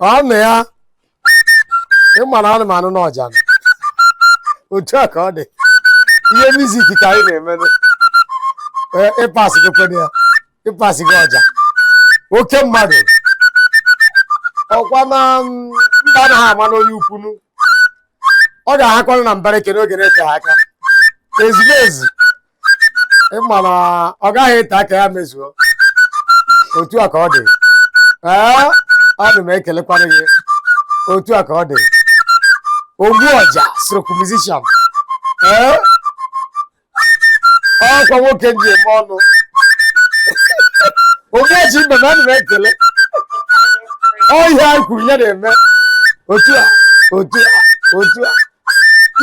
ọnụ ya ị mara anụ m anụ na ọja otu a ka ọ dị ihe music ka anyị na-eme ị pass gị kwene ya ị pasị gị ọja oke mmadụ ọkwa na mba anaghị ama onye ukwu nụ ọ ga-ahakwanụ na mbara eke n'oge na-eteghị aka ezigbo ezi ị ma na ọ gaghị ete aka ya mezuo otu a ka ọ dị ee ana m ekelekwanụ gị otu a ka ọ dị ogbu ọja stroke musician ee ọkwa nwoke m ji eme ọnụ onye ji be m ana m ekele ihe anyị kwuru ya na-eme otu a otu a otu a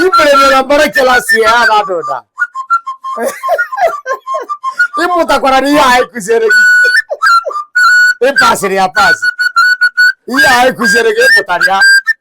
ibere mere mbara kelasi ya ha na-ada ụda ị mụtakwara na ihe anyị kụziere gị ị pasịrị ya pasị ihe anyị kụziere gị ị mụtara ya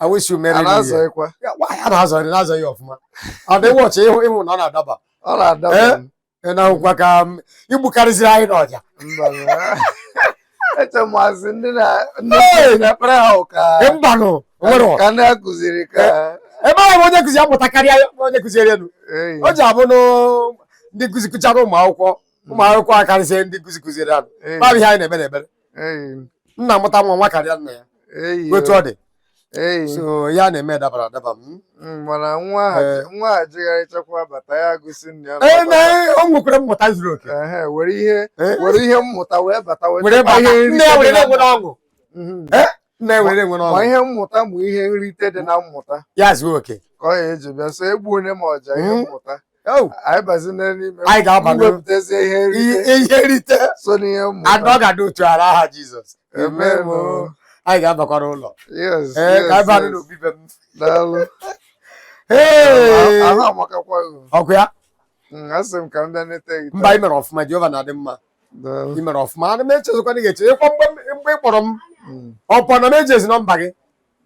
I wish you merry new year. Anazọghịkwa. Ya, wa- ya na-azọ ya na-azọ ya ọfụma ọ dị wọchị ị hụ ị hụ na ọ na-adaba Ọ na-ada Eh? m. ị na-ahụkwa ka i gbukarịziri anyị n'ọja Mba, mba. Eche m asị ndị na ndị Hey! na-ekpere ha ụka Ee, mbanụ o nwere ọ. ka ndị a kụziri ka ebe ahụ onye nkụzi ya mụta karịa ya onye kụziere elu Ee, o ji abụnụ ndị nkụzi kụchara ụmụ akwụkwọ ụmụ akwụkwọ akarịsịa ndị nkụzi kụziere ha nụ ee. ma bụ ihe anyị na-ekpe n'ekpere nna mụta nwa nwa karịa nna ya otu ọ dị so ya na-eme dabara adaba m mm, mana nwa a eh. jegharịchakwa bata ya gosi nna ya eh, o nwekwara mmụta zuru oke were ihe eh. were ihe mmụta wee bata wee nna ya were na-enwe ọṅụ mhm. na-enwere enwe n'ọṅụ ma ihe mmụta ma ihe nrite dị na mmụta ya zuo oke ka ọ ya eji bịa so egbu onye ma ọja ihe hmm? mmụta anyị bazi n'ime anyị ga-aba wepụtazie ihe nrite ihe nrite so n'ihe mmụta and ọ ga-adị otu a n'aha Jizọs anyị ga-abakwara ụlọ ee ka anyị baa n'obi be m daalụ ahụ amakakwa ọkụ ya asị m ka m bịa nete gị mba ị mere ọfụma Jehova na-adị mma ị mere ọfụma ana m echezikwa na ị ga-eche ịkwa mgbe m- mgbe ị kpọrọ m Mm. ọkwa na m ejizi nọmba gị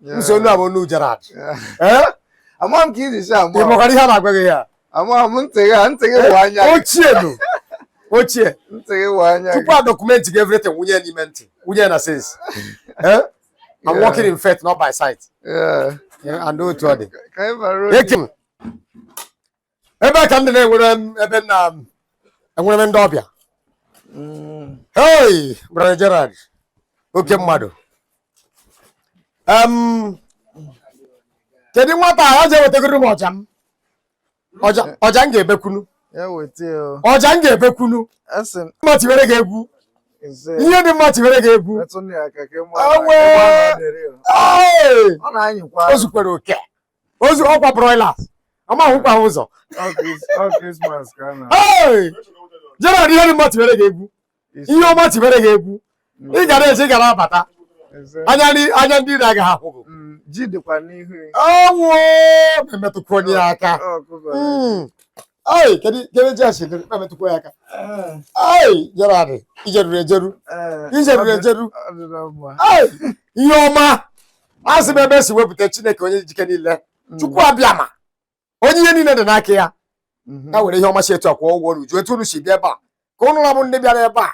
Yeah. so onu a bụ onu Gerard Yeah. ee Amaghị m ka i ji si ị ama. makwara ihe a na-agwa gị ya Amaghị m ntị gị a, ntị gị bụ anya gị. ochie nụ ochie Ntị gị bụ anya tupu gị. a document gị everything wụnye ya n'ime ntị wụnye ya na sense ee I'm Yeah. walking in faith not by sight Yeah. Yeah, and otu ọ dị Ka anyị bara ụlọ. Eke m. ebe a ka m dị na-enwere m ebe m na-enwere m ndị ọbịa hei brother Gerald oke mmadụ Em, kedu nwata a ọja ewetagoro m ọja m ọja ọja m ga-ebekwunu ya weta ya o. ọja m ga-ebekwunu Asị m, mma tiwere gị egwu ise, ihe dị mma tiwere gị egwu metụnụ ya aka ka ị mara Awe! na ebe ọ na-adịrị ya. Ee! ọ na-anyịkwa o zukwere oke o zu ọkwa broilers amahụkwa ha ụzọ Gerald ihe dị mma tiwere gị egwu ihe ọma tiwere gị egwu ị ga na-eje ị ga na-abata anya ndị anya ndị iro agaghị ahụ mm, ji dịkwa n'ihu unu metụkwanụ ya aka ai mm. kedu kedu ji a si dị emetụkwa ya aka ai eh. Gerald i jeruru ejeru eh. i jeruru ejeru ai ihe ọma asị m ebe e si wepụta chineke onye ji ike niile mm. chukwu abiama onye ihe niile dị n'aka ya mm-hmm. ya were ihe ọma si etu akwa ụgwọ unu ju etu unu si bịa ebe a ka ụnụ ra bụ ndị bịara ebe a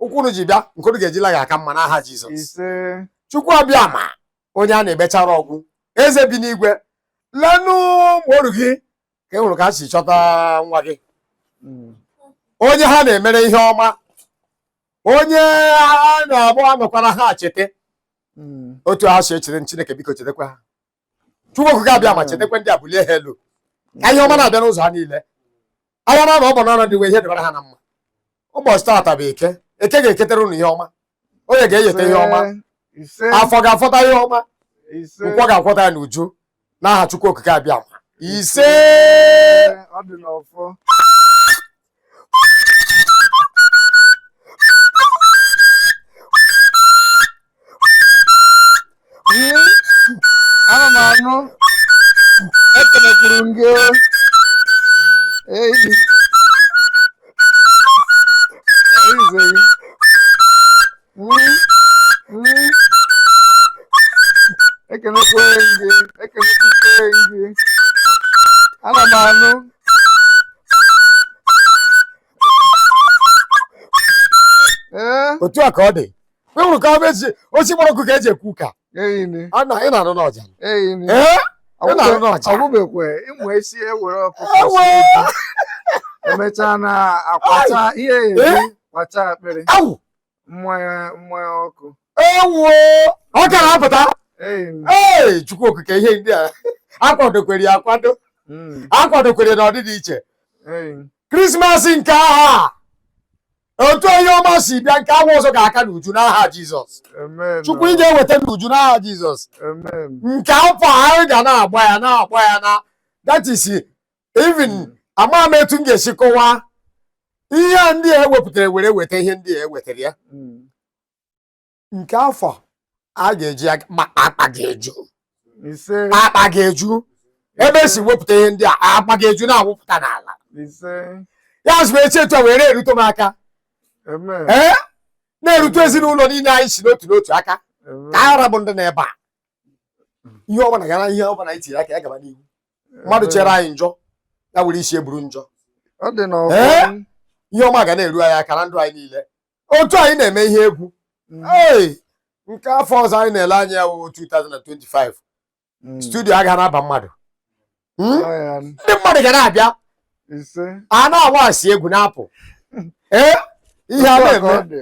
ụkwụ unu ji bịa nke unu ga-eji la ya aka mma n'aha jizọs chukwu abiama onye a na-ebechara ọgwụ eze bi n'igwe lenụ mgbe oru gị ka ị hụrụ ka ha si cheta nwa gị mm. onye ha na-emere ihe ọma onye a na-agba anọkwara ha chete hmm. otu ha si echere m Chineke biko chetakwa ha Chukwu okike abiama hmm. chetakwa ndị a bulie ha elu ka ihe ọma na-abịa n'ụzọ ha niile anya na ọ bụ n'ọnụ ndị nwe ihe dịbara ha na mma ụbọchị taata bụ eke eke ga-eketara ụnụ ihe ọma oye ga-eyeta ihe ọma afọ ga-afọta ihe ọma nkwọ ga-akwọta ya n'uju n'aha Chukwu Okike abiama ise ọ dị n'ọfọ ana m anụ ekelekwuru m gị eyi ekenekwe gị ekenekwe gị ana m anụ ee otu a ka ọ dị ị hụrụ ka o si gbara ọkụ ka eji ekwu ka eyini a na ị na-anụ n'ọja eyini ee ị na-anụ n'ọja ọgwụbekwe ịmụ esi ewere ọkụkọ e wee mechaa na akwata ihe eji kwacha akpịrị awụ mmanya ọkụ ewuo ọ ka na-apụta ee chukwu okike ihe ndị a akwadokwere ya akwado hmm. akwadokwere na ọdịdị iche krismas nke afọ a otu onye ọma si bịa nke afọ ọzọ ga-aka n'uju n'aha jizọs chukwu ị ga-eweta n'uju n'aha jizọs nke afọ anyị ga na-agba ya na-agba ya na that is even Mm. amaghị m etu m ga-esi kọwaa ihe a ndị a ewepụtara were weta ihe ndị a ewetara ya Mm. nke afọ a ga-eji aga- ma akpa ga-eju ise akpa ga-eju ebe e si wepụta ihe ndị a akpa ga-eju na-awụpụta n'ala ise ya zụrụ echi etu a wee na-erute m aka amen ee na-erute ezinụlọ niile anyị si n'otu n'otu aka amen ka a ra bụ ndị nọ ebe a ihe ọbụla gara ihe ọbụla anyị tiri aka ya gaba n'ihu mmadụ chere anyị njọ ya were isi ya buru njọ ọ dị na Ee? ọfọ ihe ọma ga na-eru anyị aka na ndụ anyị niile otu anyị na-eme ihe egwu ee nke afọ ọzọ anyị na-ele anya ya wụ 2025 studio agaghị na-aba mmadụ Hmm? ndị mmadụ ga na-abịa ise a na-awax egwu na-apụ ee ihe a Otu a ka na-eme ọ dị.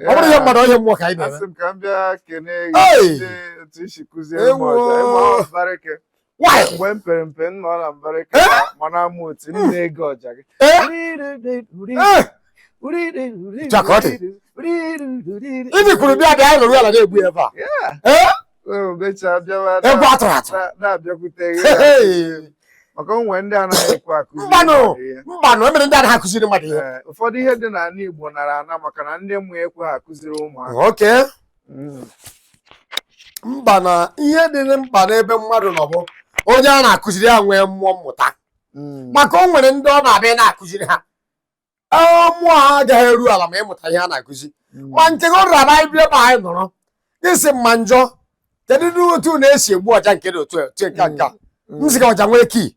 ọ bụrụ ihe mmadụ ọ bụ ihe mmụọ ka anyị na-eme asị m ka m bịa kene Hey! gị n'ụdị otu i si kụziere m Ewo! ọja ịma mbarịke Why? mgbe m pere mpe m nọ na mbarịke Eh? ma- ma na-amụ otu m na-ege ọja gị Eh? Eh! Jakọtị. Ibi kwuru bịa bịa anyị nọrọ ala na-egbu ya ebe a. Yeah. Eh? egwu atụrụ atụ maka o nwe ndị anaghị ekwe akụzi mbanụ mbanụ e nwere ndị anaghị akụziri mmadụ ihe ụfọdụ ihe dị n'ala Igbo nara ana maka na ndị mbụ ekweghị akụziri ụmụaka okay mm. mba na ihe dị mkpa n'ebe mmadụ nọ bụ onye a na-akụziri ya nwee mmụọ mmụta mm. maka o nwere ndị ọ na-abụ ị na-akụziri ha ee, mmụọ ha agaghị eru ala ma ịmụta ihe a na-akụzi Mm. ma nke gị rara anyị bịa ebe anyị nọrọ gị sị mma njọ kedụdị otu unu si egbu ọja nke dị otu a, otu nke a, nke a Mm. m sị ka ọja nwee key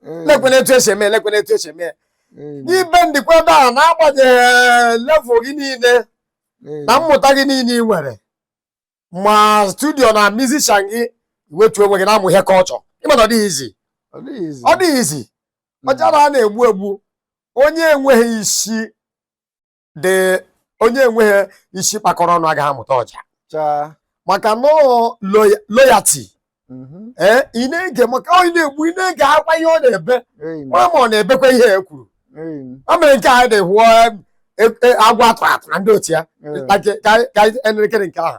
Mm. lekwene etu e si eme ya, lekwene etu e si eme ya. Mm. na ị bendikwa down na-agbanyeghị level gị niile Mm. na mmụta gị niile i nwere ma studio na musician gị iwetu onwe gị na-amụ ihe ka ọ chọ ị ma na ọ dịghị easy Ọ dịghị easy. ọ dịghị easy ọja a na-egbu egbu onye enweghị isi dị onye enweghị isi kpakọrọ ọnụ agaghị amụta ọja Chaa. maka na ọ loyalty mhm. ee ị na-ege maka onye na-egbu ị na-egekwa ihe ọ na-ebe ama ma ọ na-ebekwa ihe e kwuru o mere nke a dị hụọ e, e, agwa atụrụ atụ na ndị otu ya ka elekere nke ahụ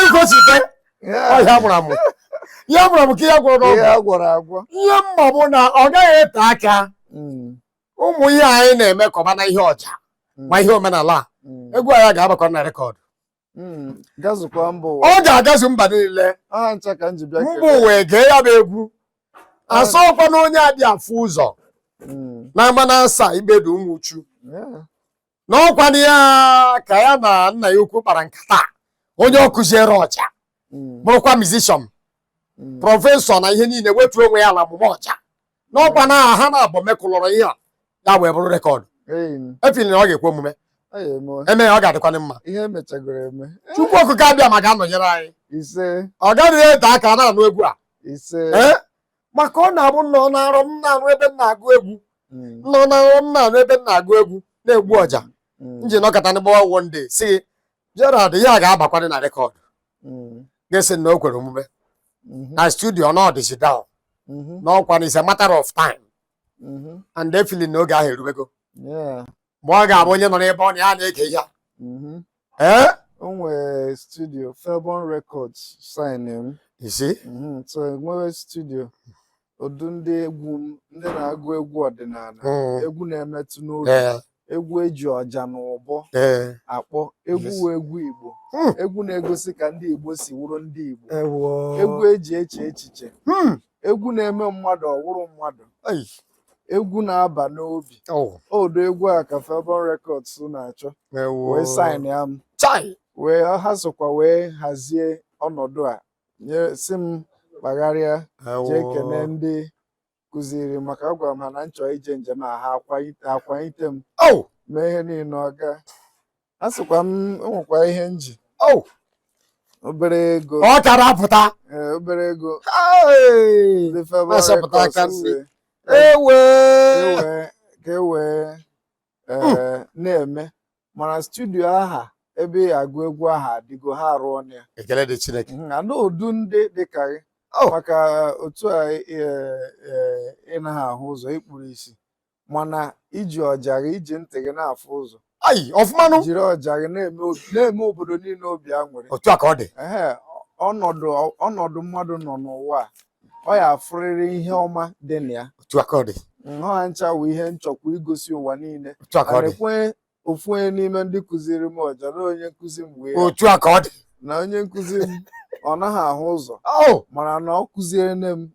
Igosite ọ ihe a mụrụ amụ. Ihe a mụrụ amụ ka ihe a gwọrọ n'ọgwụ. Ihe a gwọrọ agwọ. Ihe m ma bụ na ọ gaghị ete aka hmm. ụmụ ihe anyị na-eme ka ọba na ihe ọja hmm. ma ihe omenala a hmm. egwu anyị ga-abakwa na rekọdụ. Ọ ga-agazu mba niile. Mba ụwa ege ya bụ egwu. A sịkwa na onye adị afụ ụzọ. Na ama na asa ibedu ụmụ uchu. n'ọkwanụ ya ka ya na nna ya ukwu kpara nkata onye ọ kụziere ọja mm. bụrụkwa mizishọn mm. prọfesọ na ihe niile wetuo onwe ya ala mụma ọja n'ọkwa na ha naabọ mekụlọrọ ihe a ya wee bụrụ rekọdụ I feel na ọ ga-ekwe omume e mee ya ọ ga-adịkwanị mma ihe e mechagoro eme Chukwu Okike Abịama ga-anọnyere anyị ise ọ gaghị ete aka a na-anụ egwu a ise maka ọ na-abụ m nọ na nrọ m na-anụ ebe m na-agụ egwu Mm, m nọ na nrọ m na-anụ ebe m na-agụ egwu na-egbu ọja mm, m ji nọkata m gbawa one day sị Gerald ihe a ga-abakwadị na rekọd mm, ka a sị na o kwere omume mhm, na studio nọdịzi down mhm, n'ọkwa na it's a matter of time mhm. and I feel na oge ahụ eruwego Yeah. ma ọ ga-abụ onye nọ n'ebe ọ nọ ya na-ege ihe a. Mhm. ee o nwere studio Felborn Records sign m isi Mhm, so e nwere studio ụdị ndị egwu m ndị na-agụ egwu ọdịnala Mm. egwu na-emetụ n'obi ee egwu eji ọja na ụbọ ee akpọ egwu Yes. wụ egwu Igbo Hmm. egwu na-egosi ka ndị Igbo si wụrụ ndị Igbo ewo egwu eji eche echiche Hmm. egwu na-eme mmadụ ọ wụrụ mmadụ Ei. egwu na-aba n'obi oh. ụdị egwu a ka Felborn Records na-achọ wee saịnịa m wee ha sokwa wee hazie ọnọdụ a si m kpagharịa jee kene ndị kụziri m aka agwara m ha na m chọ ije njem a ha akwanyite m oh! mee ihe niile ọ gaa a sịkwa m enwekwa ihe m ji Oh, obere ego ọ chara apụta ee, obere ego Hey! ndị Felborn Na-asọpụta aka Records nri. sị, ewe ewe ka e wee ee, na-eme mana studio aha ebe ị ga-agụ egwu aha adịgo ha arụọna ya ekele dị Chineke Mhm, ana ụdụ ndị dịka gị Oh. maka otu a ee, ee, ị naghị ahụ ụzọ i kpuru isi mana i ji ọja gị i ji ntị gị na-afụ ụzọ ayi ọfụmanụ jiri ọja gị na-eme obi- na-eme obodo niile obi aṅụrị otu a ka ọ dị ehe ọnọdụ ọnọdụ mmadụ nọ n'ụwa a, ọ ya-afụrịrị ihe ọma dị na ya otu a ka ọ dị nhọ ha ncha wụ ihe m chọkwa igosi ụwa niile otu a ka ọ dị anekwe ofu onye n'ime ndị kụziri m ọja na onye nkụzi m wee otu a ka ọ dị na onye nkụzi m ọ naghị ahụ ụzọ Oh, mana na ọ kụziere nne m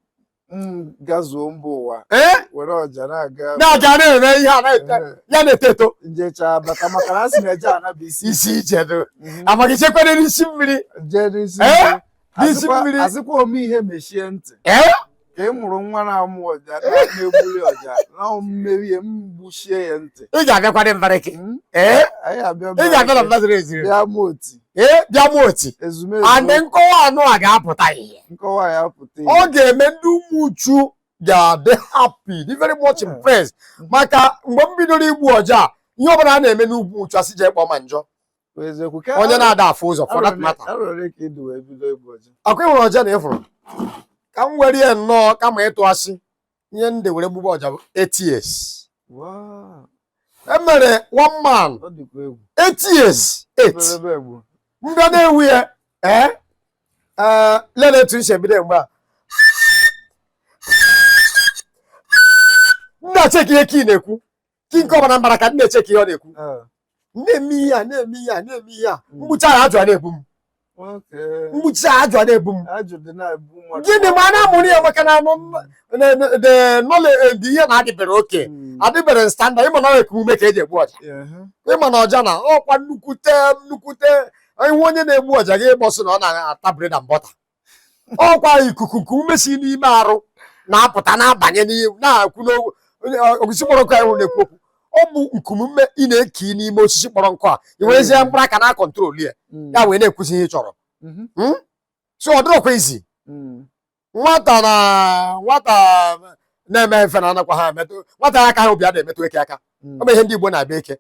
Mm, gazuo mba ụwa ee were ọja na-aga na ọja na-eme ihe a na-ete Ee. ya na-eto eto m jechaa bata maka na a sị na eje ana bụ isi isi ije dị Mhm. amaghị chekwere n'isi mmiri jee n'isi Ee? mmiri. N'isi Asịkwa- mmiri. asịkwa ome ihe mechie ntị ee ka ị mụrụ nwa na-amụ ọja na- na-egbuli ọja na mmeri ya m gbuchie ya ntị ị ga-abịakwa dị mbarịkị Mm, ee anyị abịa ị ga-abịa na mmadụ eziri bịa mụ oti ee bịa m oti ezumezu and nkọwa anụ a ga-apụta ihe nkọwa ya pụta ọ ihe ga-eme ndị Umuchu ga-adị happy dị very much Yeah. impressed maka mgbe m bidoro igbu ọja a, ihe ọbụla a na-eme n'Umuchu a sị jee kpọọ ma njọ Bụ eziokwu ka onye na-ada afụ ụzọ for that matter arọ ole ka ị dị wee bido igbu ọja akwa ịhụrụ ọja na ị fụrụ ka m were ya nnọọ kama ịtụ asị ihe m dị were gbube ọja bụ eight years Wow. e nwere one man Ọ dịkwa egwu. eight years eight Ebelebe egbuo. m bịa na-egbu ya ee ee lele etu m si ebido mgbe a m na-acheki ihe ka ị na-ekwu kinka ọbara mbara ka m na-eche ka ihe ọ na-ekwu na-eme ihe a na-eme ihe a na-eme ihe a m gbuchaa ajụ ana-ebu m m gbuchaa ajụ ana-ebu m gịnị mana a mụrụ ya maka na anụ knowledge ihe na adịbere okay adịbere standard ị ma na ọ nku ume ka e ji egbu ọja ị ma na ọja na ọkwa nnukwute nnukwute ihe onye na-egbu ọja ka Igbo sị na ọ na-ata bread and butter ọkwa ikuku nku ume si n'ime arụ na-apụta na-abanye n'ihe na-ekwu n'okwu onye- ọ- osisi kpọrọ nkụ ahụ na-ekwu okwu ọ bụ nku ume ị na-ekuye n'ime osisi kpọrọ nkụ a i werezie mkpụrụ aka na-akọntrol ya Mm, ya wee na-ekwuzi ihe ị chọrọ mhm, so ọ dịrọkwa easy mm, nwata na nwata na-eme mfe na anakwa ha emetụ nwata akaha obi a na-emetụ eke aka mm, ọ bụ ihe ndị Igbo na-abịa eke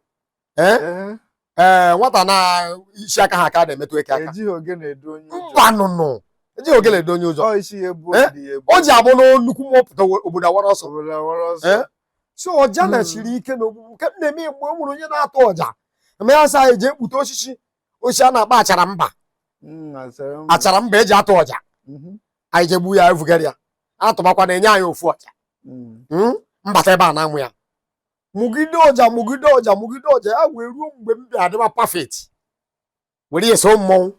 ee Ee, ee nwata na isi akaha aka na-emetụ eke aka ejighị ogene edu onye ụjọ. mbanụnụ ejighị ogele edu onye ụjọ Ọ isi ya ebu Eh? obi ya ebu. o ji abụ na nnukwu mmụọ pụta obodo awara ọsọ Obodo awara ọsọ. Eh? so ọja Mm. na-esiri ike n'ogbugbu nke m na-eme mgbe o nwere onye na-atụ ọja n'Amanasa eji ekpute osisi osisi a na-akpọ achara mba Mm, achara mba. achara mba e ji atụ ọja Mhm. anyị je gbuo ya vugara ya atụmakwa na-enye anyị ofu ọja Mm. Mm? m bata ebe a na-amụ ya mụgide ọja mụgide ọja mụgide ọja ya wee ruo mgbe m bịa adịba perfect were ya so mmọnwụ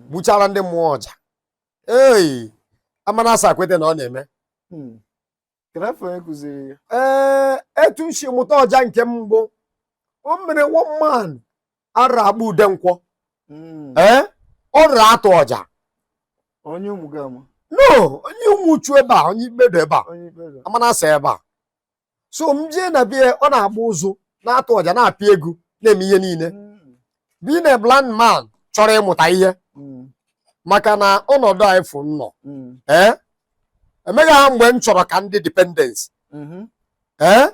gbuchaara ndị mmụọ ọja ee Amanasa kweta na ọ na-eme Hmm. Kedu afa onye kụziri ya? ee etu m si mụta ọja nke mbụ o nwere one man a na-akpọ Udenkwọ Hmm. ee ọ na-atụ ọja Onye Umugama? no onye Umuchu ebe a onye ikpedo ebe a Onye ikpe ga? Amanasa ebe a so m jee na bie ọ na-agba ụzụ na-atụ ọja na-apịa egwu na-eme ihe niile Mm. being a blind man chọrọ ịmụta ihe Mm. maka na ọnọdụ a ị fụ m nọ Mm. ee enweghị ha mgbe m chọrọ ka m dị dependence Mhm. ee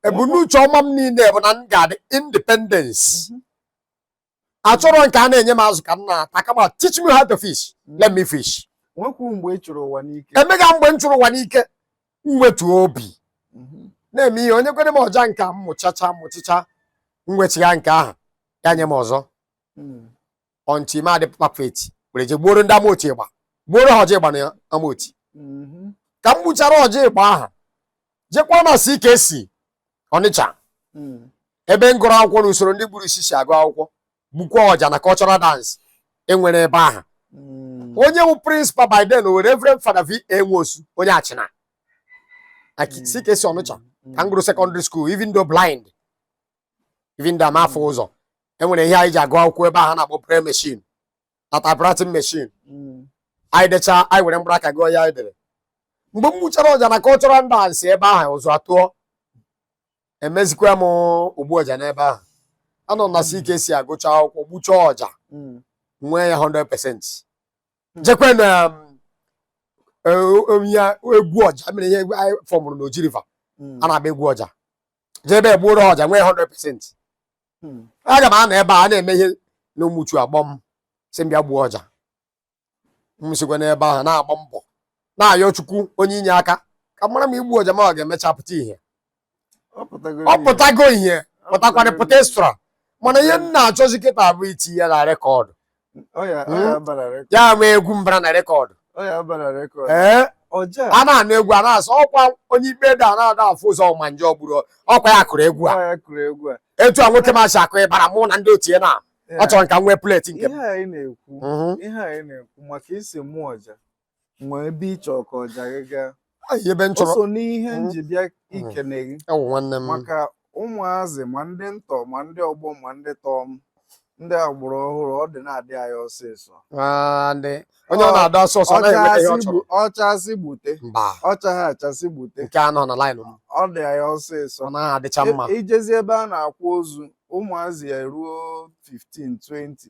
ebumnuche ọma m niile bụ na m ga-adị independence Mhm. achọrọ nke a na-enye m azụ ka m na-ata kama teach me how to fish let me fish nwekwu mgbe ị chụrụ ụwa n'ike enwegha mgbe m chụrụ ụwa n'ike m wetuo obi mhm. na-eme ihe o nyekwara m ọja nke a mụchacha mụchịcha m wechigha nke ahụ ya nye m ọzọ hmm. until m adị perfect were je gbuoro ndị amaochi ịgba gbuoro ha ọja ịgba na amaochi mhm. ka m gbuchara ọja ịgba ahụ jekwa na CKC ọnịcha mm. ebe m gụrụ akwụkwọ na usoro ndị kpuru isi si agụ akwụkwọ gbukwa ọja na cultural dance enwere ebe ahụ mm. onye bụ prịnsịpal by then were Reverend Fada V A Nwosu onye achịna mm. CKC ọnịcha ka m gụrụ sekọndịrị skuul even though blind even though m afụ ụzọ enwere ihe anyị ji agụ akwụkwọ ebe ahụ na-akpọ braille machine na typewriting machine mm. anyị dechaa anyị were mkpụrụ aka gụọ ihe anyị dere mgbe m gbuchara ọja na cultural dance ebe ahụ ụzụ atụọ emezikwa m ogbu ọja n'ebe ahụ anọ m na CKC agụcha akwụkwọ gbuchaa ọja mm. nwee ya 100% mm. jekwe na um, e, um, ya egwu ọja mere ihe anyị fọmụrụ na Oji River a na-agba egwu ọja jee ebe egbuoro ọja nwee 100% hmm. aga m anọ ebe a na-eme ihe na ụmụchu akpọọ m sị m bịa gbuo ọja m sikwa n'ebe ahụ na-agba mbọ na-ayọ chukwu onye inye aka ka a mara m igbu ọja ma ọ ga-emecha pụta ihe ọ pụtago ihe pụtakwana pụta extra mana ihe m na-achọzi kịtaa bụ iti ya na rekọdụ hmm? ya ama egwu m bara na rekọdụ ee a na-anụ egwu a na-asị ọkwa onye ikpe da na-ada afụ ụzọ ma nje ọgburu ọkwa ya kụrụ egwu a etu a nwoke m a si akụ ịbara mụ na ndị otu ya na achọrọ m ka m nwee pleti nke m ihe anyị na-ekwu mhm. maka i si mụọ ọja nwee ebe ị chọrọ ka ọja gị gaa Ai, ebe m o chọrọ so n'ihe m ji bịa ikene gị awụ nwanne m maka ụmụazị ma ndị ntọ ma ndị ọgbọ ma ndị tọọ m ndị agbụrụ ọhụrụ ọ dị na-adị anyị ọsịsọ Ah, ndị onye ọ na-adị ọsọ ọsọ anaghị enweta ihe ọ Ọchasị chọrọ gbu- ọchasị gbute mba ọchaghị achasị gbute nke a nọ na laịnụ m ọ dị anyị ọsịsọ ọ naghị adịcha mma I- ijezi ebe a na-akwa ozu ụmụazị ya eruo 15 20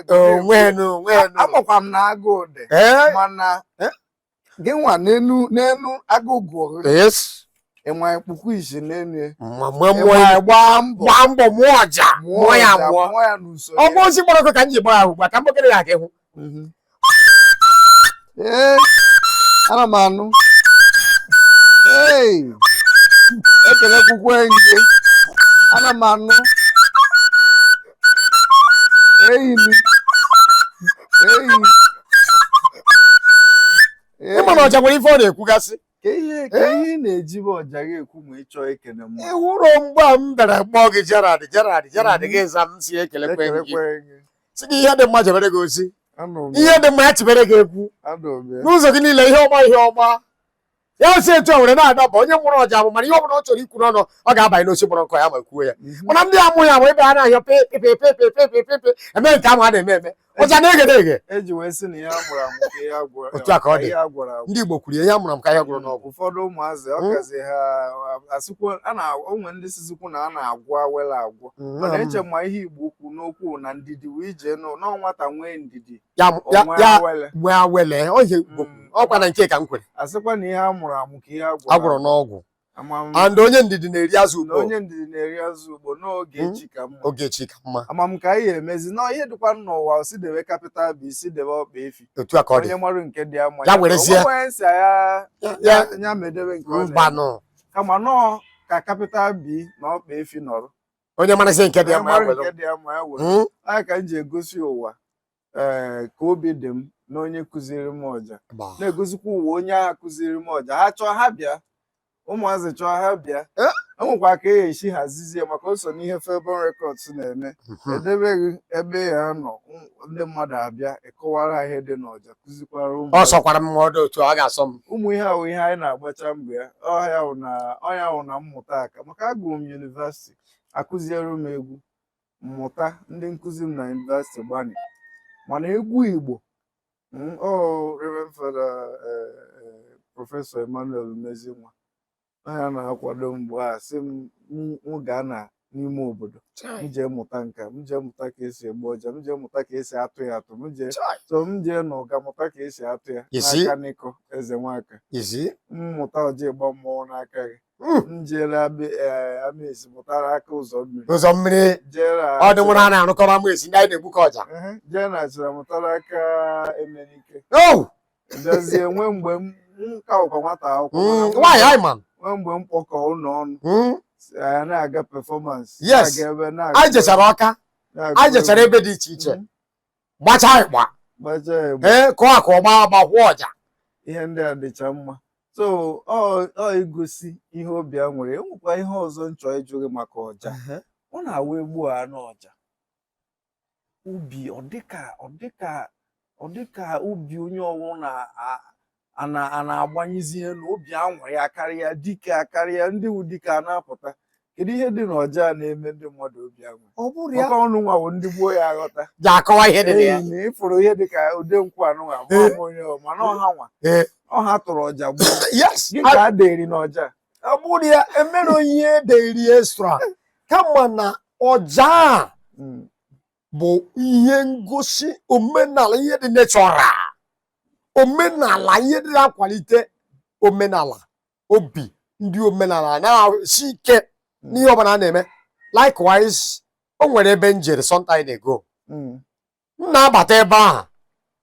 onwenu onwenu amakwa m na agụụ dị ee mana Eh? gị nwa n'enu n'enu agụụ gụọ gị yes gị nwa ekpukwu isi n'enu ya mma mma mụọ ịma ya gbaa mbọ gbaa mbọ mụọ ọja mụọ ya ọja, mụọ mụọ ya n'usoro ọ bụ ozi gbara ọkụ ka m ji gbaa ahụ gba ka m bụkere ya ka ịhụ Mhm. Ee, ana m anụ Hey, ekelekwukwe gị ana m anụ enyi m enyi ị ma na ọja nwere ife ọ na-ekwugasị ka ihe ka ihe ị na-eji bụ ọja gị ekwu ma ị chọọ ekele mmadụ ị hụrụ mgbe a m bịara kpọọ gị Gerald Gerald Gerald gị za m si ekelekwe gị ekelekwe gị si gị ihe dị mma jebere gị ozi anụrụ m ihe dị mma ya chibere gị ekwu anụrụ m ya n'ụzọ gị niile ihe ọma ihe ọma ya si etu a were na-adaba onye mụrụ ọja bụ ma na ihe ọbụla ọ chọrọ ikwu n'ọnụ ọ ga-abanye n'osi mụrụ nkọ ya ma kwuo ya mhm. mana ndị amụghị ya wee bịa na-ahịọ pepepepepepepepe eme nke ahụ a na-eme eme ọja na-eghe eghe e otu a ka ọ dị ndị Igbo kwuru ihe a mụrụ amụ ka ihe a gwọrọ n'ọgwụ ụfọdụ ụmụazị ọ hmm? kazi ha asịkwo o nwe ndị sizikwu na a na-agwọ awele agwọ hmm. mana eche ma ihe Igbo kwu n'okwu na ndidi wee jee na nwata nwee ndidi ya ya O nwee awele. nwee awele ọ ihe Igbo kwuru. Mm. ọkwa na nke ka m kwere asịkwa na ihe a mụrụ amụ ka ihe a gwọrọ a gwọrọ n'ọgwụ ama m and onye ndidi na-eri azụ n'ukpoo onye ndidi na-eri azụ ukpoo na oge Mm. chi ka mma oge chi ka mma ama m ka anyị ga-emezi na ihe dịkwa n'ụwa si debe capital B si debe ọkpa efi otu a ka ọ dị onye mara nke dị ya mma Ya werezie. onye si ya Ya- ya ya- ya medebe nke ọ na-eme. mbanụ kama nọọ ka capital B na ọkpa efi nọrọ onye marazi nke dị ya mma ya Mara were nke dị ya mma ya were. Mm. Ọ ya ka m ji egosi ụwa ee ka obi dị m na onye kụziri m ọja Gbaa. na-egosikwa ụwa onye ahụ kụziri m ọja ha chọọ ha bịa ụmụazị chọọ ha bịa Eh? e nwekwa ka a ga-esi hazizie maka o so n'ihe Favour Records na-eme Mhm. edebeghị ebe a ga-anọ ndị mmadụ abịa a kọwara ha ihe dị n'ọja kụzikwara ụmụ ọ sọkwara m ma ọ dị otu ọ ga-asọ m ụmụ ihe ahụ ihe anyị na-agbacha mgbe a ọ ya wụ na ọ ya wụ na mmụta aka maka agụrụ m yunivasiti akụziere m egwu m mụta ndị nkụzi m na yunivasiti gbanị mana egwu igbo mm, ọ Reverend Father, eh, eh, prọfesọ emmanuel umezinwa na ya na-akwado mgbe a sị m m- m gaa na n'ime obodo m Chai, jee mụta nka m jee mụta ka esi egbu ọja m jee mụta ka esi atụ ya atụ m jee chai. so m jee na ụga mụta ka esi atụ ya You see? n'aka n'ịkọ ezenwaka You see? m mụta ọja ịgba mmọnwụ n'aka gị Mm. m jeere abị ee amesi mụta n'aka ụzọ mmiri ụzọ mmiri jeere ọ dị nwụrụ a na-arụkọrọ amesi ndị anyị na-egbukọ ọja Ehe, jee na achina mụta n'aka emenike Oh! bịazie nwee mgbe m m ka bụkwa nwata akwụkwọ Mm, mana nwaanyị anyị ma nwee mgbe m kpọkọ ụlọ ọnụ Mm, si, anyị na-aga performance Yes. na-aga ebe na-aga anyị ebe, jechara Ọka na-aga anyị jechara ebe dị iche iche Mm. gbacha anyị gba gbacha ya egbe. ee kụọ aka ọma ma kwụọ ọja ihe ndị a dịcha mma so ọ ọ igosi ihe obi a nwere enwekwa ihe ọzọ m chọ ịjụ gị maka ọja ọ na-awụ egbu a n'ọja obi ọ dịka ọ dịka ọ dịka obi onye ọwụna a na- a na-agbanyezi elu obi anwụrị ya karịa dike a karịa ndị wu dike a na-apụta kedu ihe dị n'ọja a na-eme ndị mmadụ obi anwụ ọ bụrụ ya maka ụnụ nwa bụ ndị gboo ya-aghọta ji akọwa ihe dị na ya Ee, na ịfụrụ ihe dịka ode nkwụ anụ nwa ma ọ bụ onye ọ ma na ọ ha nwa Ee. ọ ha tụrụ ọja gboo yes gịnị ka a dịrị n'ọja ọ bụrụ ya enwero ihe dịrị extra kama na ọja a Mm. bụ ihe ngosi omenala ihe dị natural omenala ihe dị na-akwalite omenala obi ndị omenala na-esi ike n'ihe ọbụla a na-eme likewise o nwere ebe m jere sometime ago Mm. m na-abata ebe ahụ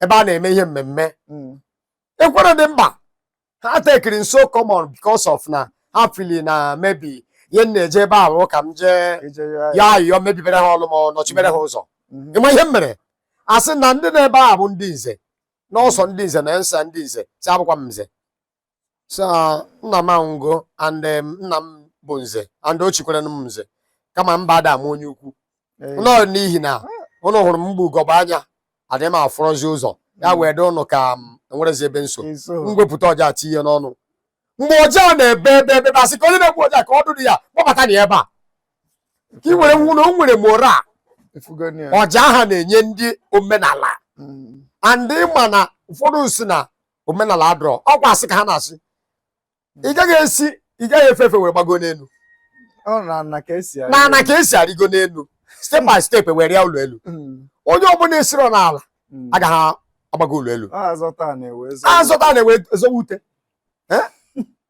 ebe a na-eme ihe mmemme Mm. ekwere dị mkpa ha tekiri m so common because of na ha feel na maybe ihe m na-eje ebe ahụ ka m jee Ije yọ- yọ ayịyọ mebibere ha ọlụ ma ọ nọchibere ha ụzọ Mhm. ịma ihe m mere a sị na ndị nọ ebe ahụ bụ ndị nze na ọzọ ndị nze na nsa ndị nze sị abụkwa m nze so nna m anwụgo and um, nna m bụ nze and o chikwara m nze kama mba ada m onye ukwu nọ n'ihi na ụnụ hụrụ m m gba ugogbe anya adịghị m afụrọzi ụzọ ya hmm. wee dị ụnụ ka m um, enwerezi ebe nso m wepụta ọja tinye n'ọnụ mgbe ọja na-ebe ebe ebe bịa sị ka onye na-egbu ọja ka e duru ya kpọbata na ebe a ka ị were hụ na o nwere morale ọja ahụ na-enye ndị omenala hmm. and ịma na ụfọdụ sị na omenala adịrọ ọkwa a sị ka ha na-asị ị gaghị esi ị gaghị efe efe wee gbago n'elu Ọ n'ana ka e si n'ana ka e si arịgo n'elu step by step were rịa ụlọ elu onye ọbụla esiro n'ala agaghị agbago ụlọ elu a zọta ana e wee zọ. a zọta ana e wee zọwa ute Eh?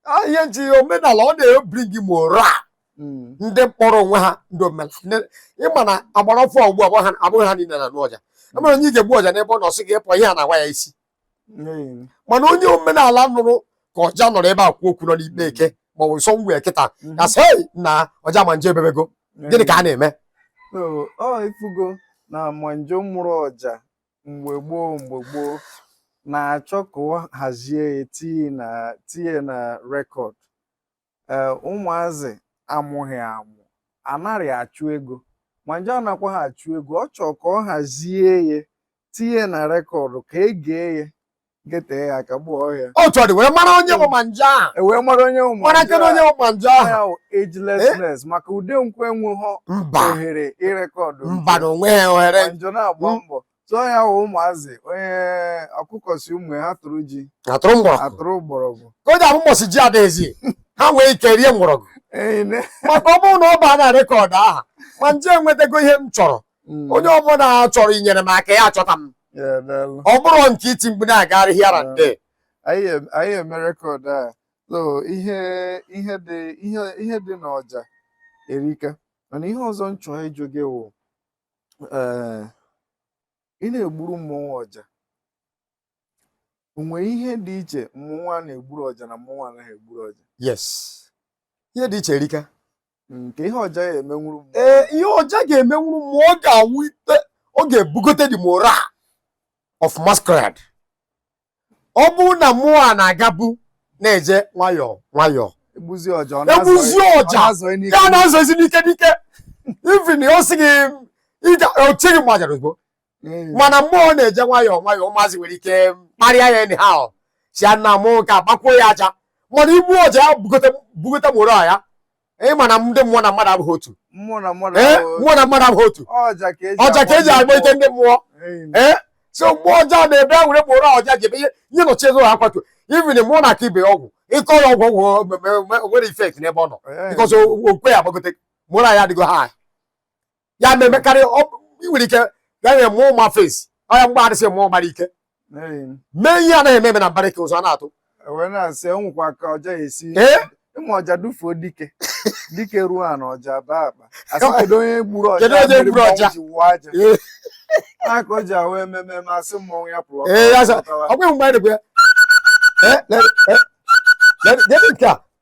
Ah, ihe nji omenala ọ na-ebring morale Mm. ndị kpọrọ onwe ha ndị omenala Ndị- ịma na agbara ọfụ ugbu a abụghị ha- abụghị ha niile na-anụ ọja e nwere onye ị ga-egbu ọja n'ebe ọ nọ sị gị pụọ ihe a na-awa ya isi mana onye omenala nụrụ ka ọja nọrọ ebe a kwuo okwu nọ n'ikpe eke maọbụ nsọ ngwa kịta ga-asị "Hey, na ọja Manje ebebego gịnị ka a na-eme so ọ ifugo na Manje mụrụ ọja mgbe gboo mgbe gboo na-achọ ka ọ hazie ya tinye na tinye na record ee ụmụazị amụghị amụ anarị achụ ego ma nje anakwa ha achụ ego ọ chọọ ka ọ hazie ya tinye na rekọdụ ka e gee ya getee ya aka gbuo ọja otu ọ dị wee mara onye bụ ma nje ahụ e wee mara onye ụmụ mara kedu onye bụ ma nje ahụ ya wụ agelessness maka ude nkwe enweghọ mba ohere ịrekọdụ mba na onwe ya ohere njọ na-agba Mm. mbọ tụọ ya wụ ụmụazị nne ọkụkọ sị ụmụ ya ha tụrụ ji ha tụrụ mgbọrọgwụ atụrụ mgbọrọgwụ ka ọ ga-abụ mbọsị ji adịghịzi ha nwee ike rie mgbọrọgwụ Ee, ne- maka ọ bụrụ na ọ baa na rekọd aha ma nje enwetago ihe m chọrọ Mm. onye ọbụla chọrọ inyere m aka ya achọta m Yeah, daalụ. ọ bụrụ nke iti mgbe na-agagharị here and there anyị em- anyị eme rekọd a so ihe ihe dị ihe ihe dị n'ọja erika mana ihe ọzọ m chọrọ ịjụ gị wụ ee ị na-egburu mmọnwụ ọja o nwere ihe dị iche mmọnwụ a na-egburu ọja na mmọnwụ anaghị egburu ọja yes ihe dị iche erika nke ihe ọja ya-emenwuru mmụọ ee ihe ọja ga-emenwuru mmụọ ọ ga-ebute ọ ga-ebugote the morale of masquerade ọ bụrụ na mmụọ a na-agabu na-eje nwayọọ nwayọọ e gbuzie ọja ọ egbuzi na-azọ- ọ ọja na-azọ n'ike. ya na-azọzi n'ike n'ike ivin ọ sị gị ịga ochighị gbajara ozugbo Ee. mana mmụọ na-eje nwayọọ nwayọọ ụmụazị nwere ike kparịa ya anyhow sị ya na mmụọ nke a gbakwuo ya aja mana igbu ọja ya bugote bugote morale ya ị ma na ndị mmụọ na mmadụ abụghị otu mmụọ na mmadụ ee ahụ- mmụọ na mmadụ abụghị otu ọja ka eji ọja ka eji agba ike ndị mmụọ Eyi. ee so mgbe ọja na-ebe o nwere mkpụrụ ọja ji ebe ihe nye nọchi ego ha kwatu ivin mmụọ na-akọ ibe ya ọgwụ ị kọ ya ọgwụ ọgwụ o- o- o- o nwerọ ifekt n'ebe ọ nọ Ee. bikọs ọkwa ya agbagote morale ya adịgo high ya na-emekarị ị nwere ike gaghị eme ụma fesi ọya mgbe adịsị mmụọ gbara ike mee ihe anaghị eme eme na mbara ike ụzọ a na-atụ ịma ọja dufuo dike dike ruo a na ọja baa akpa a sị kedu onye gburu ọja mmiri ọja ji wụọ aja aka o ji ahụ ememe ma a sị mmọnwụ ya pụrụ ọkwa mgbe anyị na-ekwe ya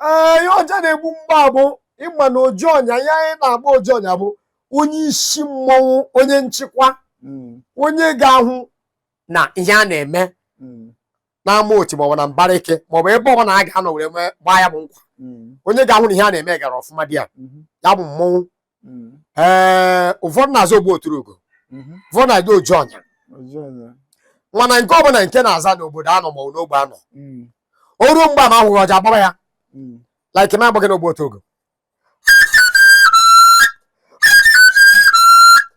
ee ihe ọja na-egbu mgbe ahụ bụ ị ma na oji ọnya ya anyị na-agba oji ọnya bụ onye isi mmọnwụ onye nchịkwa onye ga-ahụ na ihe a na-eme n'ama otu maọbụ na mbara ike maọbụ ebe ọbụna a ga-anọ were mee gbaa ya bụ nkwa onye ga-ahụ na ihe a na-eme gara ọfụma di ya ya bụ mmọnwụ mm. ee ụfọdụ na-aza ogbu oturugo mm-hmm. ụfọdụ na-aza oji ọnya mana nke ọbụla nke na-aza n'obodo a nọ ma n'ogbe a nọ mm. o ruo mgbe ama ahụghị ọja agbaba ya mm. like m agbaghị n'ogbu oturugo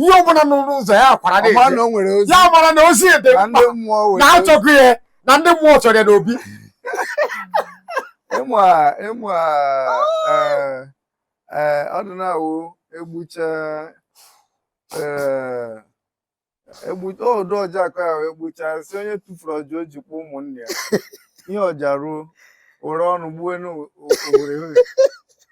ihe ọbụla nọ n'ụzọ ya akwara na-eje ọma na o nwere ozi ya mara na ozi dị na mkpa ndị mmụọ were na achọghị ya na ndị mmụọ chọrọ ya n'obi ịma ịma eh, eh, ọ dị na-awụ egbucha eh, egbu ọdụ ọja akọ ya wee gbucha sị onye tufuru ọja o ji akwa ụmụnne ya ihe ọja ruo were ọnụ gbuo n'obodo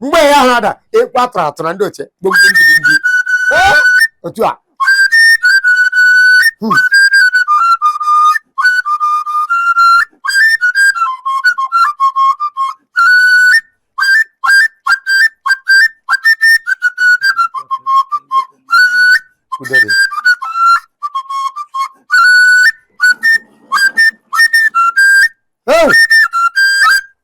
mgbe ya ha ada ekwe atụrụ atụrụ na ndị ochie gboo otu a Hmm. Udo dị. Hey!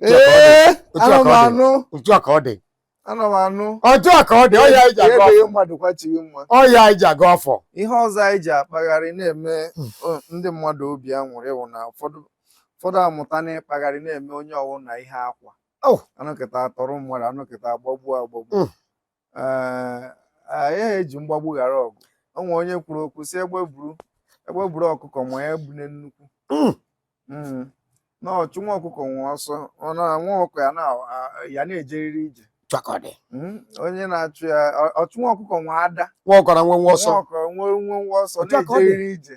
ee ana m anụ otu a ka ọ dị ana m anụ otu a ka ọ dị ọya iji aga ebeghị ọfọ mmadụ kwachighị mma ọya iji aga ọfọ ihe ọzọ anyị ji akpagharị na-eme Hmm. o- ndị mmadụ obi aṅụrị wụ na ụfọdụ ụfọdụ amụta na-akpagharị na-eme onye ọwụna ihe akwa Oh. a nọkata a tọrọ mmadụ a nọkata agbagbu agbagbu Mm. anaghị eji mgbagbu ghara ọgụ o nwere onye kwuru okwu sị egbe buru egbe buru ọkụkọ ma ya ebune nnukwu hmm. Hmm. na ọchụ nwa ọkụkọ nwe ọsọ nwa ọkụkọ ya na-ejeriri ije hmm. onye na-achụ ya ọchụ nwa ọkụkọ nwe ada nwa ọkụkọ nwenwe ọsọ nwa ọkụkọ nwenwe ọsọ na-ejeriri ije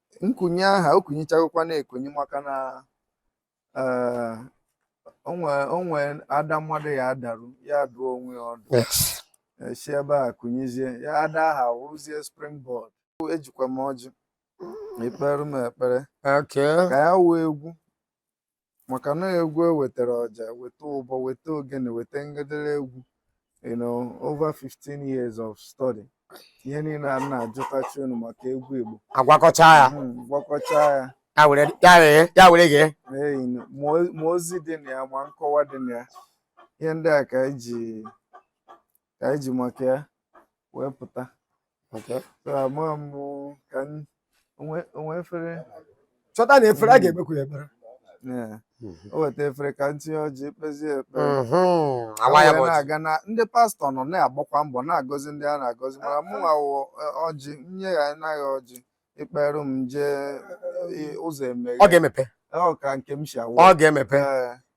nkunye aha o kunyichagokwa na-ekunye maka na eh, o nwe o nwe ada mmadụ ya adaru ya adụọ onwe ya ọdụ yes e si ebe a kunyezie ya ada aha wụrụzie springboard ejikwa m ọjị i kpeere m ekpere okay ka ya wụ egwu maka na egwu e wetara ọja weta ụbọ weta ogene weta ngederegwu you know over 15 years of study ihe niile a na-ajụtachanụ maka egwu igbo a gwakọcha ya Hmm, gwakọcha ya ya were ya were ya were gị Ee, you know, ma o- ma ozi dị na ya ma nkọwa dị na ya ihe ndị a ka anyị ji ka anyị ji maka ya wee pụta Okay. So, ama m ka m- o nwe o nwe efere chọta na efere a ga-ekpekwu ya ekpere Yeah. o weta efere ka m tinye ọjị kpezie ekpere Mhm. Ka a waa ya wee bụ ọjị. na-aga na ndị pastọ nọ na-agbakwa mbọ na-agọzi ndị a na-agọzi mana mụ nwa wụ eh, ọjị nye ya anaghị ọjị i kperụ m jee eh, ụzọ emeghe ọ ga-emepe ọ ka nke m si awụ ọ ga-emepe Ee,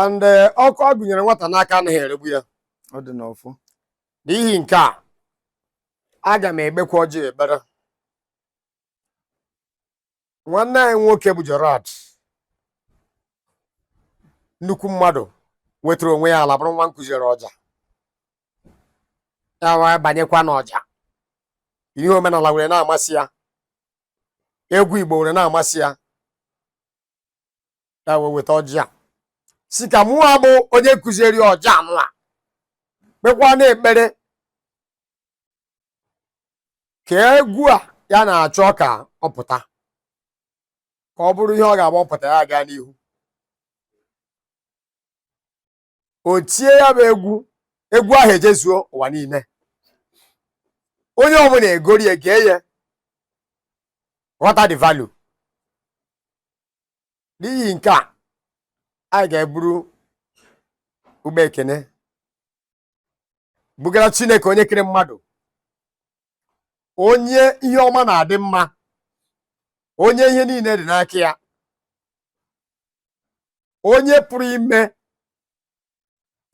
and eh, ọkụ a gụnyere nwata n'aka anaghị eregbu ya ọ dị n'ọfụ n'ihi nke a aga m ekpekwa ọjị ekpere nwanne anyị nwoke bụ Gerald nnukwu mmadụ wetara onwe ya ala bụrụ nwa m kụziiri ọja ya wee banyekwa n'ọja ihe omenala were na-amasị ya egwu Igbo were na-amasị ya ya wee weta ọjị a sị ka mụwa bụ onye kụziri ọja nụ a kpekwa na ekpere ka egwu a ya na-achọ ka ọ pụta ka ọ bụrụ ihe ọ ga-agba ọ pụta ya gaa n'ihu o tie ya bụ egwu egwu ahụ ejezuo ụwa niile onye ọbụla egoro ya gee ya ghọta the value n'ihi nke a anyị ga-eburu ụgbọ ekene bugara chineke onye kere mmadụ onye ihe ọma na-adị mma onye ihe niile dị n'aka ya onye pụrụ ime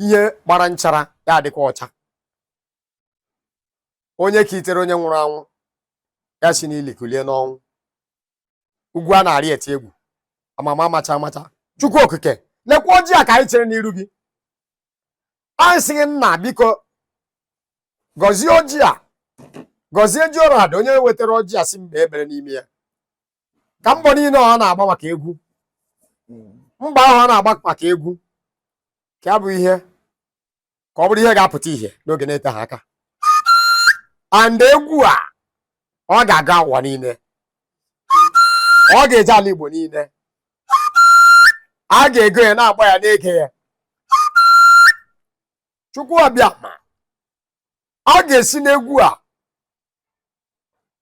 ihe gbara nchara ya adịkwa ọcha onye kulitere onye nwụrụ anwụ ya si n'ili kulie n'ọnwụ ugwu a na-arị atụ egwu amama amacha amacha chukwu okike lekwa ọjị a ka anyị chere n'iru gị anyị sị gị nna biko gọzie ọjị a gọzie Gerald onye wetara ọjị a sị m kpee ekpere n'ime ya ka mbọ niile ọ na-agba maka egwu mbọ ahụ ọ na-agba maka egwu ka ya bụ ihe ka ọ bụrụ ihe ga-apụta ihe n'oge na-eteghị aka and egwu a ọ ga-aga ụwa niile ọ ga-eje ala Igbo niile a ga-ego ya na-agba ya na-ege ya Chukwu Abịama ọ ga-esi n'egwu a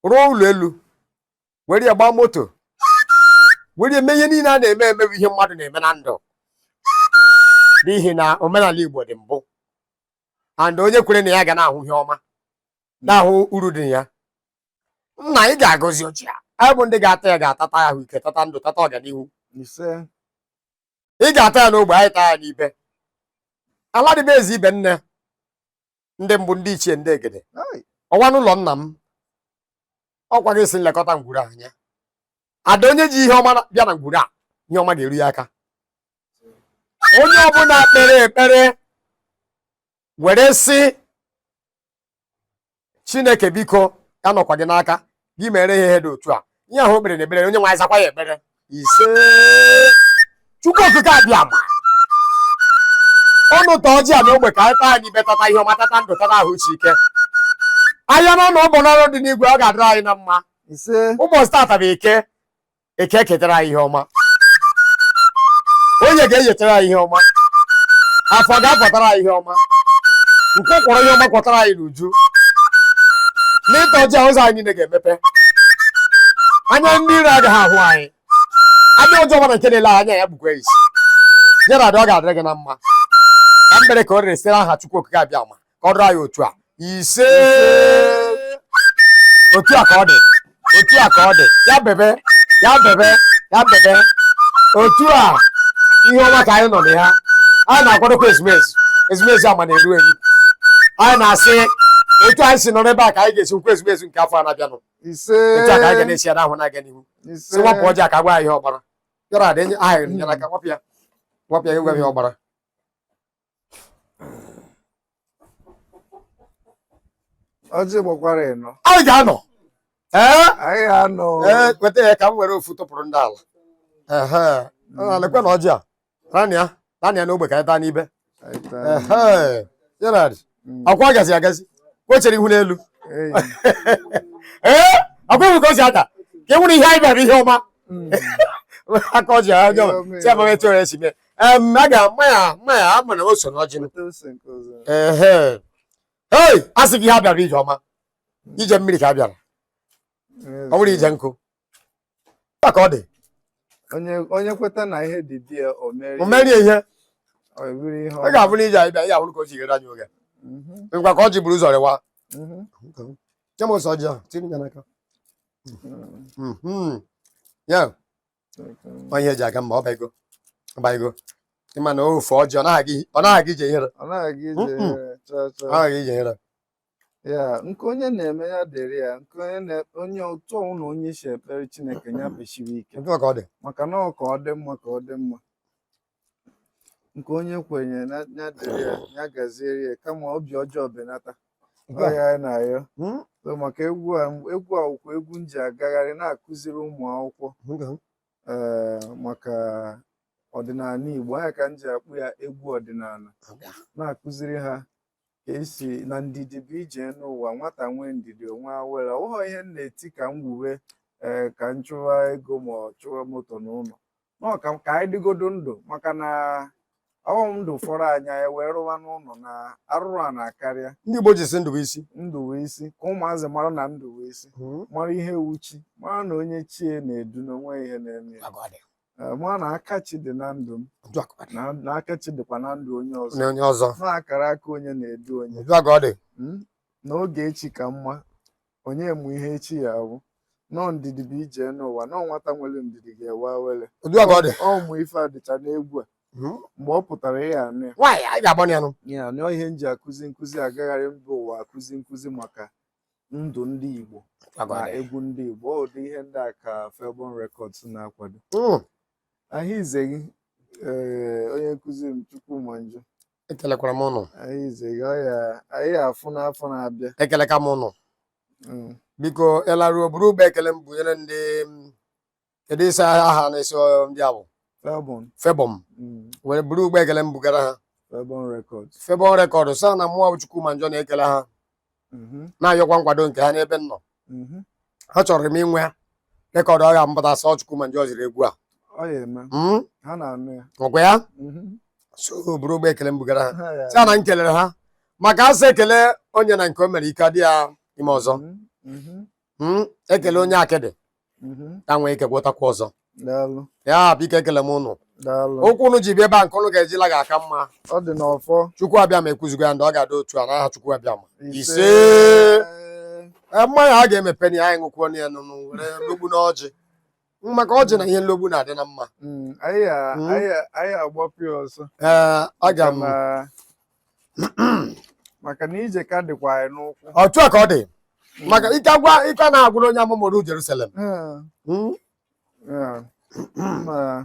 rụọ ụlọ elu were ya gbaa moto were eme ihe niile a na-eme eme bụ ihe mmadụ na-eme na ndụ n'ihi na omenala Igbo dị mbụ and onye kwere na ya ga na-ahụ ihe ọma na-ahụ uru dị ya nna ị ga-agọzi ọjị a anyị bụ ndị ga-ata ya ga-atata ya ahụ ike tata ndụ tata ọganihu ị ga-ata ya n'ogbe anyị taa ya n'ibe ala dịbe ezi ibe nne ndị mbụ ndị ichie ndị egede Ai. ọwa n'ụlọ nna m ọkwa gị sị m lekọta ngwuru a anya and onye ji ihe ọma bịa na ngwuru a ihe ọma ga-eru ya aka onye ọbụla kpere ekpere were sị chineke biko anọkwa m gị n'aka gị meere ya ihe dị otu a ihe ahụ o kpere na ekpere onye nwe anyị zakwa ya ekpere ise chukwu okike abịama unu ta ọjị a n'ogbe ka anyị taa n'ibe tata ihe ọma tata ndụ tata ahụ isi ike ahịa na ọnụ ọbụ n'ọrụ dị n'igwe ọ ga-adịrị anyị na mma ise ụbọchị tata bụ eke eke eketara anyị ihe ọma oye ga-enyetara anyị ihe ọma afọ ga-akwatara anyị ihe ọma nkwọ kwọrọ ihe ọma kwatara anyị n'uju n'ịta ọjị a ụzọ anyị niile ga-emepe anya ndị iro agaghị ahụ anyị anya ọjọọ ọbụla nke na-ele anya ya kpukwa isi nyere ada ọ ga-adịrị gị na mma ka m kpere ka o rere site n'aha Chukwu Okike Abịama ka ọ dịrị anyị otu a ise otu a ka ọ dị otu a ka ọ dị ya bebe ya bebe ya bebe otu a ihe ọma ka anyị nọ na ya anyị na-akwadokwa ezumezu ezumezu ama na-eru eru anyị na-asị otu anyị si nọ n'ebe a ka anyị ga-esi nọkwa ezumezu nke afọ a na-abịanụ ise otu a ka anyị ga na-esi ya n'ahụ na-aga n'ihu ise si wapụ ọjị a ka gwa anyị ihe ọ gbara yọrọ ada enye aha nyere aka wapụ ya wapụ ya gwa anyị ihe ọ gbara ọjị gbakwara ịnọ anyị ga-anọ ee anyị anọ ee kweta ya ka m were ofu tụpụrụ ndị ala ehe ọ na-ekwe na ọjị a naanị ya naanị ya n'ogbe ka anyị taa n'ibe ehe Gerald akwa agazi agazi kwechere ihu n'elu ee akwa ihu ka o si ada ka e nwere ihe anyị bịara ihe ọma aka ọjị ahụ ọjọọ si amaghị etu ọrịa si mee Em, a ga ma ya ma ya ama na o so n'ọjị m. Otu ose nke ọzọ. Ehe. Hey, a sị gị ihe a bịara ije ọma. Ije mmiri ka a bịara. Ọ bụrọ ije nkụ. Ya ka ọ dị. Onye onye kweta na ihe dị di ya o merie. O merie ihe. Ọ bụrụ ihe Ọ ga-abụ na ije anyị bịa, ya bụrụ ka o si ghere anyị oge. Mhm, Ngwa ka ọjị buru ụzọ rịwa. mhm. Nye m ose ọjị ahụ, tinye ya n'aka. Mhm. Ya. onye eji aga mma ọ bago ọ bago ịma na ofe ọjị ọ naghị ọ naghị ije ihere ọ naghị ije Mm-mm. ihere chaa chaa ọ naghị ije ihere ya nke onye na-eme ya dịrị ya nke onye na- onye otu ọwụna onye si ekpere chineke ya kpesiwe ike nke ọ ka ọ dị maka na ọ ka ọ dị mma ka ọ dị mma nke onye kwenye na ya dịrị ya ya gaziere ya kama obi ọjọọ benata ọ ya anyị na-ayọ Hmm? so maka egwu a egwu a wụkwa egwu m ji agagharị na-akụziri ụmụ akwụkwọ Nga. ee maka ọdịnala Igbo ọ ya ka m ji akpọ ya egwu ọdịnala Nga. na-akụziri ha a sị na ndidi bụ ije n'ụwa nwata nwee ndidi o nwee awere ọ wụghọ ihe m na-eti ka m wuwe ee ka m chụwa ego ma ọ chụwa moto na ụlọ n'ọka ka anyị dịgodo ndụ maka na ọ wụ ndụ fọrọ anyị ewee rụwa n'ụlọ na-arụrụ a na-akarịa ndị Igbo ji sị ndụ bụ isi ndụ bụ isi ka ụmụazị mara na ndụ bụ isi hmm. mara ihe wụ chi mara na onye chi ya na-edu na o nweghị ihe na-eme eh, mara na aka chi dị na ndụ m na aka chi dịkwa na ndụ onye ọzọ na akara aka onye na-edu onye hmm? na oge chi ka mma onye ma ihe echi ya-abụ na ọ ndidi bụ ije n'ụwa na ọ nwata nwere ndidi ga-enwe awere Otu a ka ọ dị. ụmụ ife a dịcha n'egwu a Hmm? mgbe ọ pụtara ya anụ ya Nwaanyị anyị ga-agbanụ ya nụ. ya anụ ihe m ji akụzi nkụzi agagharị mba ụwa akụzi nkụzi maka ndụ ndị Igbo Otu a ka ọ na dị. egwu ndị Igbo ọ dị ihe ndị a ka Felbon Records na-akwado Hmm. ahụ ize gị ee onye nkụzi m Chukwuma Njọ ekelekwara m ụnụ anyị zega ya anyị afụ n'afọ na-abịa ekelekwa m ụnụ Mm. biko ị laruo buru ụgbọ ekele m bunyere ndị m, kedu ị sị aha na-esi ọ- ndị a bụ Felbon Felbon mm, were buru ụgbọ ekele m bugara ha Felbon Records Felbon Records sị ha na mụa Chukwuma Njọ na-ekele ha mhm, na-ayọkwa nkwado nke ha n'ebe m nọ mhm. achọrọ m inwe ya record ọ ya-apụta sị ọ Chukwuma Njọ ziri egwu a ọ ya eme Mm, ha na-anụ ya ọkwa ya Mhm. so buru ụgbọ ekele m bugara ha Ha ya- sị ha na m kelere ha maka a sị ekele onye na nke o mere ike adị ya ime ọzọ Mhm, mhm. Mm, ekele onye akịdị Mhm. ya enwee ike gwọtakwa ọzọ Daalụ. ya biko ekele m ụnụ Daalụ. ụkwụ ụnụ ji bịa ebe a nke ụnụ ga-eji la ga-aka mma Ọ dị n'ọfọ. Chukwu Abịama ekwuzigo ya na ọ ga-adị otu a n'aha Chukwu Abịama ise Ee, mmanya a ga-emepenụ ya anyị ṅụkwuonụ ya nụnụ were logbu n'ọjị maka ọjị na ihe nlogbu na-adị na mma Mm, anyị a- Mm. anyị a- anyị agbapụ ya ọsọ ee aga m Maka na- maka na ije ka dịkwa anyị n'ụkwụ otu a ka ọ dị maka ike agwa ike na-agwụrụ onye amụmụrụ Jerusalem Eh, Mm. eh, ma-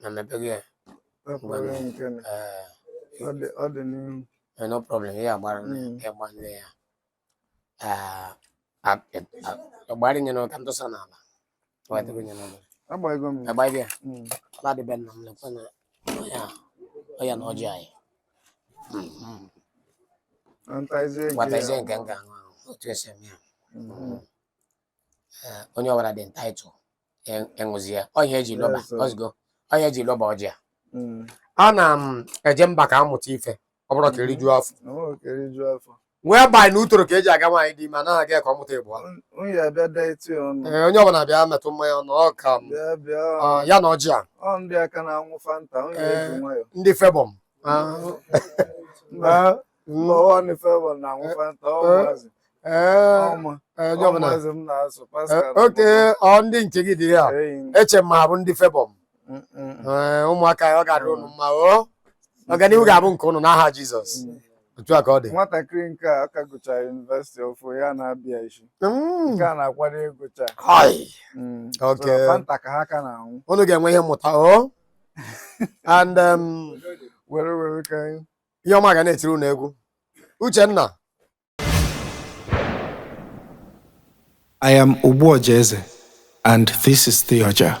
na mepego ya no problem ya agbara ịgbanye ya agbara nye n'ụka m tụsa n'ala agbaghị ya ladịbe nna m lekwa na ọya na ọjị anyị nwatazie nke m ga-aṅụ ahụ otu e si eme ya Eh, onye ọbụla dị entitled e- ịṅụzi ya ọ ihe e ji loba Yes, sir. ọzụgo ọ ihe e ji loba ọjị a Mm. ana m eje mba ka a mụta ife ọ bụrọ ka e rijuo afọ O nwere ka eriju afọ. wee banye na utoro ka e ji aga nwaanyị dị ime anaghị aga ya ka ọ mụta ịbụọ Un- Unu ya bịa detụ ọnụ. Ee, onye ọbụla bịa metụ mmanya ọnụ ọ ka m Bịa bịa. ọ, ya na ọjị a Ọ ndị a ka na-aṅụ Fanta. Unu ya eji Eh. nwayọ. ndị Felbon Ah, Mba, lọwa ni favour na àwọn fanta ọmọazị ọmọ ọmọazị m na-asụ Pascal okay ọ ndị nke gị dị ya eche ma abụ ndị favour m ụmụaka ọ ga-adịrị unu mma o ọganihu ga-abụ nke unu n'aha Jizọs otu a ka ọ dị nwatakịrị nke a ka gụchara yunivesiti ọfụ ya na-abịa isi mm. nke a na-akwado ịgụcha mm. fanta ka ha ka na-anwụ unu ga-enwe ihe mmụta o oh. and um, were were ka ihe ọma ga na-etiri unu egwu Uchenna I am Ogbuọja Eze and this is the ọja.